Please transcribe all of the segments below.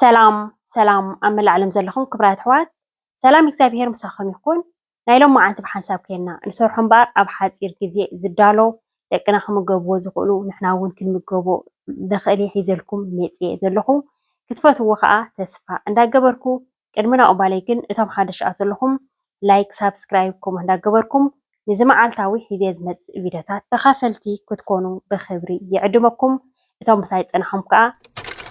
ሰላም ሰላም ኣብ መላእ ዓለም ዘለኹም ክብራት ኣሕዋት ሰላም እግዚኣብሄር ምሳኹም ይኹን። ናይ ሎም መዓልቲ ብሓንሳብ ከና ንሰርሖ እምበኣር ኣብ ሓፂር ግዜ ዝዳሎ ደቅና ክምገብዎ ዝኽእሉ ንሕና እውን ክንምገቦ ንኽእል ሒዘልኩም መፅየ ዘለኹ ክትፈትዎ ከዓ ተስፋ እንዳገበርኩ ቅድሚ ናብኡ ባለይ ግን እቶም ሓደሽኣ ዘለኹም ላይክ ሳብስክራይብ ኮሞት እንዳገበርኩም ንዚ መዓልታዊ ሒዜ ዝመጽእ ቪድዮታት ተኻፈልቲ ክትኮኑ ብኽብሪ ይዕድመኩም እቶም ምሳይ ጸናሕኩም ከኣ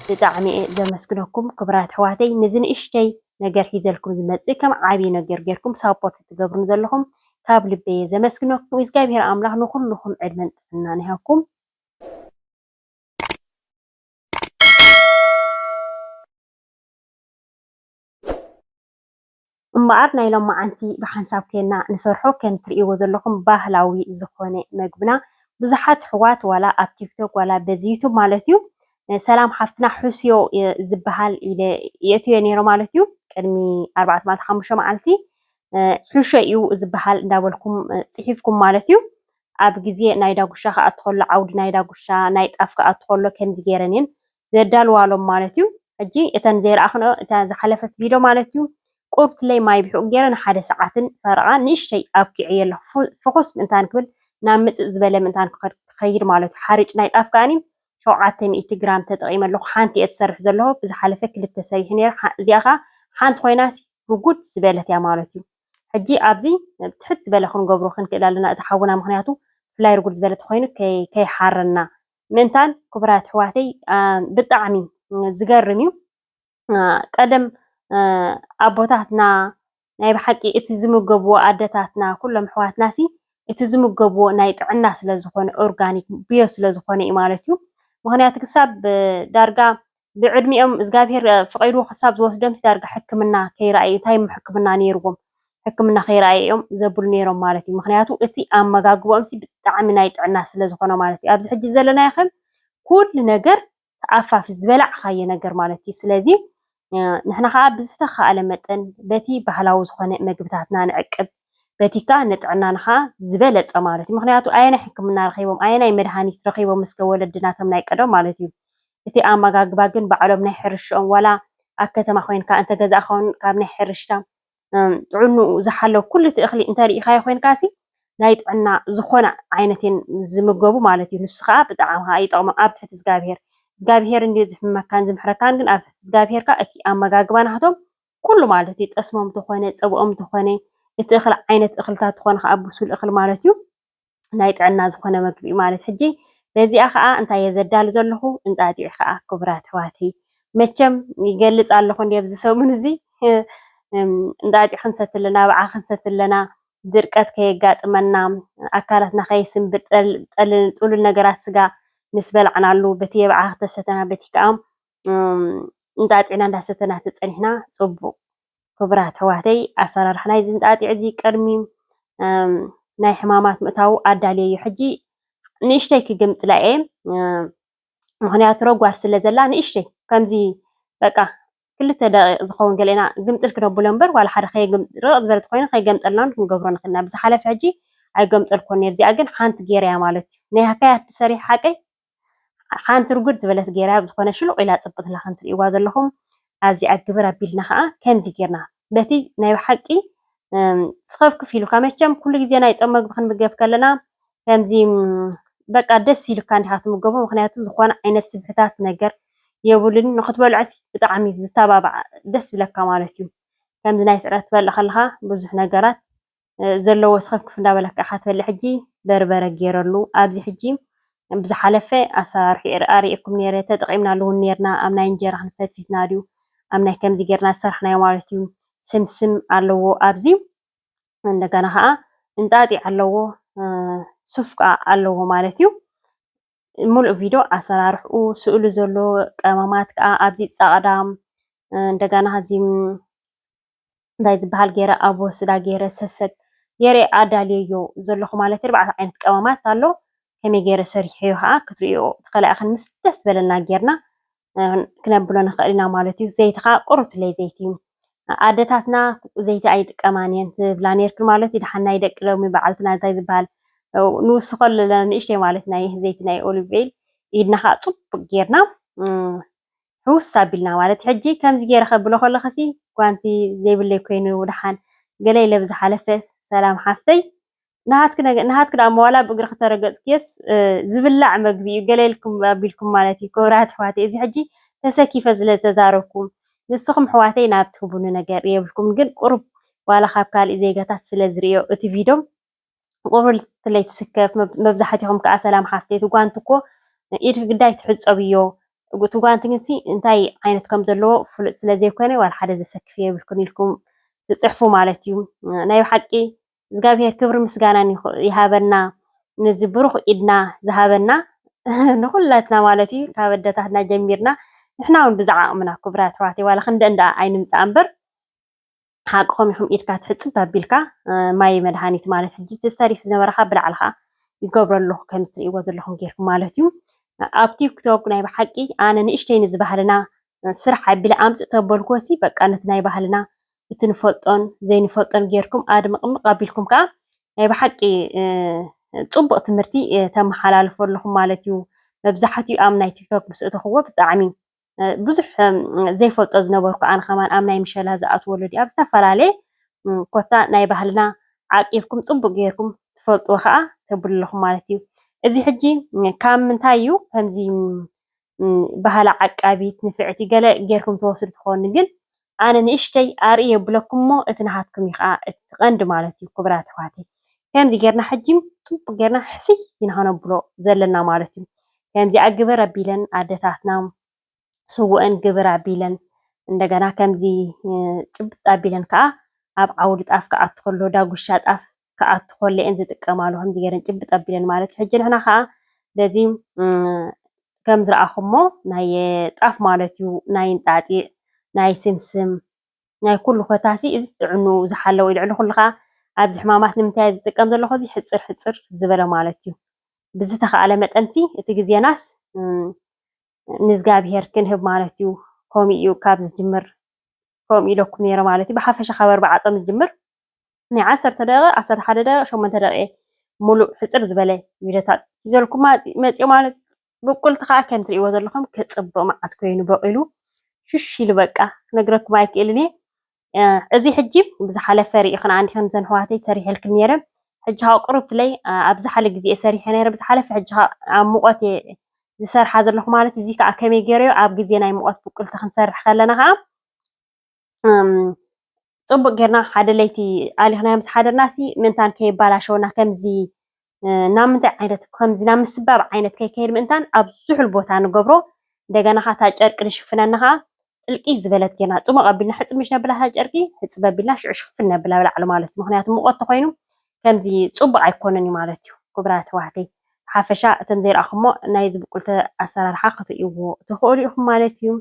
ብጣዕሚ'የ ዘመስግነኩም ክብራት ኣሕዋተይ ንዚ ንእሽተይ ነገር ሒዘልኩም ዝመጽእ ከም ዓቢ ነገር ጌርኩም ሳፖርት ትገብሩኒ ዘለኹም ካብ ልበይ'የ ዘመስግነኩም እዝጋብሄር ኣምላኽ ንኹሉኹም ዕድመን ጥዕናን ይሃብኩም። እምበኣር ናይ ሎማዓንቲ ብሓንሳብ ኴንና ንሰርሖ ከም ትርእይዎ ዘለኹም ባህላዊ ዝኾነ መግብና ብዙሓት ኣሕዋት ዋላ ኣብ ቲክቶክ ዋላ በዚ ዩቱብ ማለት እዩ ሰላም ሓፍትና ሕስዮ ዝበሃል ኢለ የእትዮ ነይረ ማለት እዩ ቅድሚ ኣርባዕተ መዓልቲ ሓሙሽተ መዓልቲ ሕሾ እዩ ዝበሃል እንዳበልኩም ፅሒፍኩም ማለት እዩ ኣብ ግዜ ናይ ዳጉሻ ክኣቱ ከሎ ዓውዲ ናይ ዳጉሻ ናይ ጣፍ ክኣቱ ከሎ ከምዚ ገይረን እየን ዘዳልዋሎም ማለት እዩ። ሕጂ እተን ዘይረኣኽንኦ እታ ዝሓለፈት ቪዶ ማለት እዩ ቁርብትለይ ማይ ብሕቁ ገይረ ንሓደ ሰዓትን ፈረቓን ንእሽተይ ኣብኪዐዮ ኣለኹ ፍኹስ ምእንታን ክብል ናብ ምጽጽ ዝበለ ምእንታን ክኸይድ ማለት እዩ። ሓርጭ ናይ ጣፍ ከኣኒ ሸውዓተ ሚእቲ ግራም ተጠቒመ ኣለኹ ሓንቲ እየ ዝሰርሕ ዘለኹ ብዝሓለፈ ክልተ ሰሪሐ ነይረ እዚኣ ከኣ ሓንቲ ኮይናሲ ብጉድ ዝበለት እያ ማለት እዩ። ሕጂ ኣብዚ ትሕት ዝበለ ክንገብሮ ክንክእል ኣለና እቲ ሓውና ምክንያቱ ፍላይ ርጉድ ዝበለ ተኮይኑ ከይሓረና ምእንታን ክቡራት ኣሕዋተይ ብጣዕሚ ዝገርም እዩ ቀደም ኣቦታትና ናይ ብሓቂ እቲ ዝምገብዎ ኣደታትና ኩሎም ኣሕዋትና ሲ እቲ ዝምገብዎ ናይ ጥዕና ስለ ዝኾነ ኦርጋኒክ ብዮ ስለ ዝኾነ እዩ ማለት እዩ ምክንያቱ ክሳብ ዳርጋ ብዕድሚኦም እግዚኣብሄር ፍቂሩ ክሳብ ዝወስዶም ዳርጋ ሕክምና ከይረኣዩ እንታይ ሕክምና ነይርዎም ሕክምና ከይረኣዩ እዮም ዘብሉ ነይሮም ማለት እዩ ምክንያቱ እቲ ኣመጋግቦኦምሲ ብጣዕሚ ናይ ጥዕና ስለ ዝኮነ ማለት እዩ ኣብዚ ሕጂ ዘለናዮ ከ ኩሉ ነገር ተኣፋፊ ዝበላዕካዮ ነገር ማለት እዩ ስለዚ ንሕና ከዓ ብዝተካእለ መጠን በቲ ባህላዊ ዝኾነ መግብታትና ንዕቅብ በቲ ከዓ ንጥዕናና ከዓ ዝበለፀ ማለት እዩ ምክንያቱ ኣየናይ ሕክምና ረኪቦም ኣየናይ መድሃኒት ረኪቦም እስከ ወለድና እቶም ናይ ቀደም ማለት እዩ እቲ ኣመጋግባ ግን ባዕሎም ናይ ሕርሽኦም ዋላ ኣብ ከተማ ኮይንካ እንተገዛእካ እውን ካብ ናይ ሕርሽታ ጥዕንኡ ዝሓለወ ኩሉ እቲ እኽሊ እንተሪኢኻዮ ኮይንካሲ ናይ ጥዕና ዝኾነ ዓይነት እዮም ዝምገቡ ማለት እዩ። ንሱ ከዓ ብጣዕሚ ከዓ ይጠቕሞ ኣብ ትሕቲ እግዚኣብሄር እግዚኣብሄር እንድዩ ዝሕመካን ዝምሕረካን ግን ኣብ ትሕቲ እግዚኣብሄር ከዓ እቲ ኣመጋግባ ናህቶም ኩሉ ማለት እዩ ጠስሞም ተኾነ ፀብኦም ተኾነ እቲ እኽሊ ዓይነት እኽልታት ተኾነ ከዓ ብሱል እኽሊ ማለት እዩ። ናይ ጥዕና ዝኾነ መግቢ እዩ ማለት ሕጂ በዚኣ ከኣ እንታይ እየ ዘዳሉ ዘለኹ እንጣጢዕ ከኣ ክቡራት ኣሕዋተይ መቸም ይገልጽ ኣለኹ እንዲ ኣብዚ ሰሙን እዚ እንጣጢዕ ክንሰቲ ኣለና ብዓ ክንሰቲ ኣለና ድርቀት ከየጋጥመና ኣካላትና ከይስንብድ ጥሉል ነገራት ስጋ ምስ በላዕናሉ በቲ የብዓ ክተሰተና በቲ ከኣ እንጣጢዕና እንዳሰተና ተጸኒሕና ጽቡቅ ክቡራት ኣሕዋተይ ኣሰራርሓ ናይዚ እንጣጢዕ እዚ ቅድሚ ናይ ሕማማት ምእታዉ ኣዳልየ እዩ ሕጂ ንእሽተይ ክግምጥላ እየ ምክንያቱ ረጓድ ስለ ዘላ ንእሽተይ ከምዚ በቃ ክልተ ደቂቕ ዝኸውን ገለና ግምጥል ክነብሎ እምበር ዋላ ሓደ ርቕ ዝበለት ኮይኑ ከይገምጠልናን ክንገብሮ ንኽእል ኢና ብዝሓለፈ ሕጂ ኣይገምጠልኮን ነር እዚኣ ግን ሓንቲ ገይረያ ማለት እዩ ናይ ሃካያት ሰሪሕ ሓቀይ ሓንቲ ርጉድ ዝበለት ጌራ ኣብ ዝኾነ ሽሉቕ ኢላ ጽብትላ ከም ትርእይዋ ዘለኹም ኣብዚኣ ግብር ኣቢልና ከኣ ከምዚ ጌርና በቲ ናይ ብሓቂ ስኸፍክፍ ኢሉካ መቸም ኩሉ ግዜ ናይ ጾም መግቢ ክንምገብ ከለና ከምዚ በቃ ደስ ኢሉካ እንዲኻ ትምገቦ ምክንያቱ ዝኾነ ዓይነት ስብሕታት ነገር የብሉን ንክትበልዖስ ብጣዕሚ ዝተባባዕ ደስ ብለካ ማለት እዩ ከምዚ ናይ ስዕረት ትበልዕ ከለኻ ብዙሕ ነገራት ዘለዎ ሰከፍክፍ እንዳበልካ ኢካ ትበልዕ ሕጂ በርበረ ጌረሉ ኣብዚ ሕጂ ብዝሓለፈ ኣሰራርሕኡ ኣርእየኩም ኔረ ተጠቂምናሉ ውን ኔርና ኣብ ናይ እንጀራ ክንዲ ፈትፊትና ድዩ ኣብ ናይ ከምዚ ጌርና ዝሰራሕናዮ ማለት እዩ ስምስም ኣለዎ ኣብዚ እንደገና ከዓ እንጣጢዕ ኣለዎ ሱፍ ከዓ ኣለዎ ማለት እዩ ሙሉእ ቪድዮ ኣሰራርሕኡ ስእሉ ዘሎ ቀመማት ከዓ ኣብዚ ፃዕዳ እንደገና እዚ እንታይ ዝበሃል ገይረ ኣብ ወስዳ ገይረ ሰሰግ ገይረ ኣዳልየዮ ዘለኹ ማለት ኣርባዕተ ዓይነት ቀመማት ኣሎ ከመይ ገይረ ሰሪሐዮ ከዓ ክትርእዮ ትኽእላ ኢኽን ምስ ደስ በለና ጌርና ክነብሎ ንኽእል ኢና ማለት እዩ ዘይቲ ከዓ ቁሩብለይ ዘይቲ እዩ ኣደታትና ዘይቲ ኣይጥቀማን እየን ትብላ ነርክን ማለት እዩ ድሓን ናይ ደቂ ሎሚ በዓልትና እንታይ ዝበሃል ንውስኾ ኣለና ንእሽተይ ማለት ናይ ዘይቲ ናይ ኦሊቭ ኦይል ኢድና ከዓ ፅቡቅ ጌርና ሕውስ ኣቢልና ማለት ሕጂ ከምዚ ጌረ ከብሎ ከለኩሲ ጓንቲ ዘይብለይ ኮይኑ ደሓን ገለ ኢለ ብዝሓለፈ ሰላም ሓፍተይ ናሃትኪ ደኣ እሞ ዋላ ብእግርኪ ተረገጽክዮስ ዝብላዕ መግቢ እዩ ገለ ኢልኩም ኣቢልኩም ማለት እዩ ክብራት ኣሕዋተይ እዚ ሕጂ ተሰኪፈ ስለ ተዛረብኩ ንስኩም ኣሕዋተይ ናብ ትህቡኒ ነገር የብልኩምን ግን ቁሩብ ዋላ ካብ ካልእ ዜጋታት ስለ ዝርእዮ እቲ ቪዶም ቁርብትለይ ትስከፍ መብዛሕትኹም ከዓ ሰላም ሓፍተይ እቲ ጓንቲ እኮ ኢድኪ ግዳይ ትሕፀብ እዮ እቲ ጓንቲ ግንሲ እንታይ ዓይነት ከም ዘለዎ ፍሉጥ ስለ ዘይኮነ ዋላ ሓደ ዘሰክፍ የብልክን ኢልኩም ትፅሕፉ ማለት እዩ ናይ ብሓቂ እግዚኣብሄር ክብሪ ምስጋናን ይሃበና ነዚ ብሩኽ ኢድና ዝሃበና ንኹላትና ማለት እዩ ካብ ኣደታትና ጀሚርና ንሕና እውን ብዛዕ ኣቕምና ክብራት ኣሕዋተይ ዋላ ክንደ እንዳ ኣይንምፃእ እምበር ሓቅኹም ኢኹም ኢድካ ትሕጽብ ኣቢልካ ማይ መድሃኒት ማለት ሕጂ እቲ ዝተሪፍ ዝነበረ ካብ ብላዕሊ ከዓ ይገብሮ ኣለኹ ከምዚ ትርእይዎ ዘለኹም ጌርኩ ማለት እዩ ኣብ ቲክቶክ ናይ ብሓቂ ኣነ ንእሽተይ ንዚ ባህልና ስራሕ ኣቢለ ኣምጽእ ተበልኩዎሲ በቃ ነቲ ናይ ባህልና እቲ ንፈልጦን ዘይንፈልጦን ጌርኩም ኣድምቕምቕ ኣቢልኩም ከዓ ናይ ብሓቂ ፅቡቕ ትምህርቲ ተመሓላልፎ ኣለኹም ማለት እዩ መብዛሕትኡ ኣብ ናይ ቲክቶክ ምስ እተኽዎ ብጣዕሚ ብዙሕ ዘይፈልጦ ዝነበርኩ ኣነ ከማን ኣብ ናይ ምሸላ ዝኣትዎ ወለዲ ኣብ ዝተፈላለየ ኮታ ናይ ባህልና ዓቂብኩም ጽቡቅ ጌርኩም ትፈልጥዎ ከኣ ተብሉ ኣለኹም ማለት እዩ። እዚ ሕጂ ካብ ምንታይ እዩ ከምዚ ባህላ ዓቃቢት ንፍዕቲ ገለ ጌርኩም ተወስዱ ትኾኑ ግን ኣነ ንእሽተይ ኣርእይ የብለኩም እሞ እቲ ናሃትኩም እዩ ከኣ እቲ ቀንዲ ማለት እዩ ኩቡራት ኣሕዋተይ ከምዚ ገርና ሕጂ ጽቡቅ ገርና ሕስይ ኢና ክነብሎ ዘለና ማለት እዩ ከምዚኣ ግበር ኣቢለን ኣደታትና ስውእን ግብር ኣቢለን እንደገና ከምዚ ጭብጥ ኣቢለን ከኣ ኣብ ዓውዲ ጣፍ ክኣቱ ከሎ ዳጉሻ ጣፍ ክኣቱ ከሎ እየን ዝጥቀማሉ ከምዚ ገይረን ጭብጥ ኣቢለን ማለት እዩ። ሕጂ ንሕና ከዓ በዚ ከም ዝረኣኹሞ ናይ ጣፍ ማለት እዩ ናይ እንጣጢዕ ናይ ስምስም ናይ ኩሉ ኮታሲ እዚ ጥዕንኡ ዝሓለወ እዩ። ልዕሊ ኩሉ ከዓ ኣብዚ ሕማማት ንምንታይ እየ ዝጥቀም ዘለኹ እዚ ሕፅር ሕፅር ዝበለ ማለት እዩ። ብዝተኸኣለ መጠን እቲ ግዜናስ ንእዝጋብሄር ክንህብ ማለት እዩ ከምኡ እዩ ካብ ዝጅምር ከምኡ ኢለኩም ነይረ ማለት እዩ ብሓፈሻ ካብ ኣርባዓ ጾም ዝጅምር ናይ ዓሰርተ ደቂቕ ዓሰርተ ሓደ ደቂቕ ሸሞንተ ደቂቕ ሙሉእ ሕጽር ዝበለ ቪድዮታት ሒዘልኩም መጽዮ ማለት ብቁልቲ ከዓ ከም ትርእይዎ ዘለኹም ክጽብቕ መዓት ኮይኑ በቂሉ ሽሽ ኢሉ በቃ ክነግረኩም ኣይክእልን እየ እዚ ሕጂ ብዝሓለፈ ርኢኽንኣን ዲኽን እዘን ኣሕዋተይ ሰሪሐልክን ነይረ ሕጂ ከዓ ቁሩብ ትለይ ኣብ ዝሓለ ግዜ ሰሪሐ ነይረ ብዝሓለፈ ሕጂ ከዓ ኣብ ሙቐት እየ ዝሰርሓ ዘለኹ ማለት እዚ ከዓ ከመይ ገይረዮ ኣብ ግዜ ናይ ሙቐት ብቁልቲ ክንሰርሕ ከለና ከዓ ፅቡቅ ጌርና ሓደ ለይቲ ኣሊኽናዮም ዝሓደርናሲ ምእንታን ከይባላሸውና ከምዚ ናብ ምንታይ ዓይነት ከምዚ ናብ ምስባብ ዓይነት ከይከይድ ምእንታን ኣብ ዝሑል ቦታ ንገብሮ። እንደገና ከኣ እታ ጨርቂ ንሽፍነና ከኣ ጥልቂ ዝበለት ጌርና ጽሙቕ ኣቢልና ሕጽብ ምስ ነብላ እታ ጨርቂ ሕጽብ ኣቢልና ሽዑ ሽፍን ነብላ ኣብ ላዕሊ ማለት እዩ። ምኽንያቱ ሙቐት ተኾይኑ ከምዚ ጽቡቕ ኣይኮነን እዩ ማለት እዩ። ክቡራት ኣሕዋተይ ብሓፈሻ እቶም ዘይረኣኹሞ ናይ እዚ ብቁልቲ ኣሰራርሓ ክትርእይዎ ትኽእሉ ኢኹም ማለት እዩ።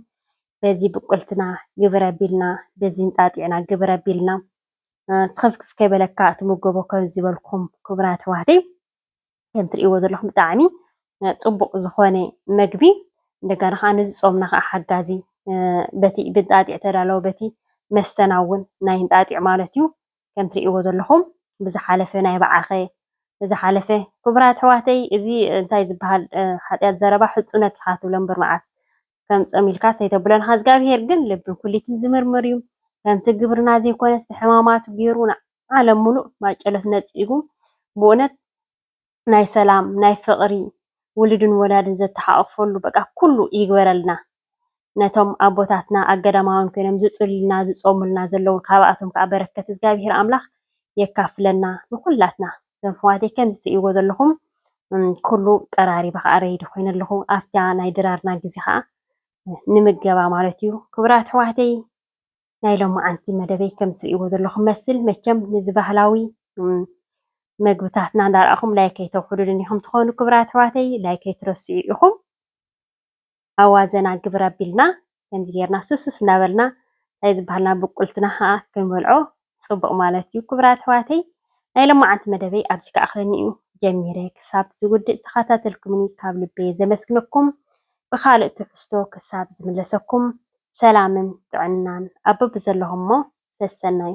በዚ ብቁልትና ግብር ኣቢልና በዚ እንጣጢዕና ግብር ኣቢልና ስኽፍክፍ ከይበለካ ትምገቦ ከምዚ ዝበልኩም ክቡራት ኣሕዋተይ ከም ትርእይዎ ዘለኹም ብጣዕሚ ፅቡቕ ዝኾነ መግቢ እንደገና ከዓ ነዚ ፆምና ከዓ ሓጋዚ በቲ ብንጣጢዕ ተዳለወ በቲ መስተና እውን ናይ እንጣጢዕ ማለት እዩ ከም ትርእይዎ ዘለኹም ብዝሓለፈ ናይ በዓኸ ዝሓለፈ ክቡራት ኣሕዋተይ እዚ እንታይ ዝበሃል ሓጢኣት ዘረባ ሕፁነት ኢኻ ትብሎ እምበር መዓስ ከም ጾም ኢልካስ ኣይተብሎን ኢኻ እዝጋብሄር ግን ልብን ኩሊትን ዝምርምር እዩ ከምቲ ግብርና ዘይኮነስ ብሕማማቱ ጌሩ ንዓለም ሙሉእ ማጨሎት ነጺጉ ብኡነት ናይ ሰላም ናይ ፍቅሪ ውሉድን ወላድን ዘተሓቆፈሉ በቃ ኩሉ ይግበረልና ነቶም ኣቦታትና ኣብ ገዳማውያን ኮይኖም ዝጽሉልና ዝጾሙልና ዘለዉ ካባኣቶም ከኣ በረከት እዝጋብሄር ኣምላኽ የካፍለና ንኩላትና። እዞም ኣሕዋተይ ከምዚ ትርእይዎ ዘለኹም ኩሉ ቀራሪበ ከዓ ረይዲ ኮይነ ኣለኹ። ኣብታ ናይ ድራርና ግዜ ከዓ ንምገባ ማለት እዩ። ክቡራት ኣሕዋተይ ናይ ሎማዓንቲ መደበይ ከምዚ ትርእይዎ ዘለኹም መስል መቸም ነዚ ባህላዊ መግብታትና እንዳረኣኹም ላይክ ኣይተውሕዱልን ኢኹም ትኾኑ ክቡራት ኣሕዋተይ ላይክ ኣይትረስዑ ኢኹም። ኣዋዘና ግብር ኣቢልና ከምዚ ጌርና ሱሱስ እናበልና ታይ ዝበሃልና ብቁልትና ከኣ ክንበልዖ ጽቡቅ ማለት እዩ ክብራት ኣሕዋተይ ናይ ለማዓንቲ መደበይ ኣብዚ ክኣክለኒ እዩ ጀሚረ ክሳብ ዝውድእ ዝተካታተልኩምኒ ካብ ልበየ ዘመስግነኩም ብካልእ ትሕዝቶ ክሳብ ዝምለሰኩም ሰላምን ጥዕናን ኣብ በብዘለኩሞ ሰሰናዩ።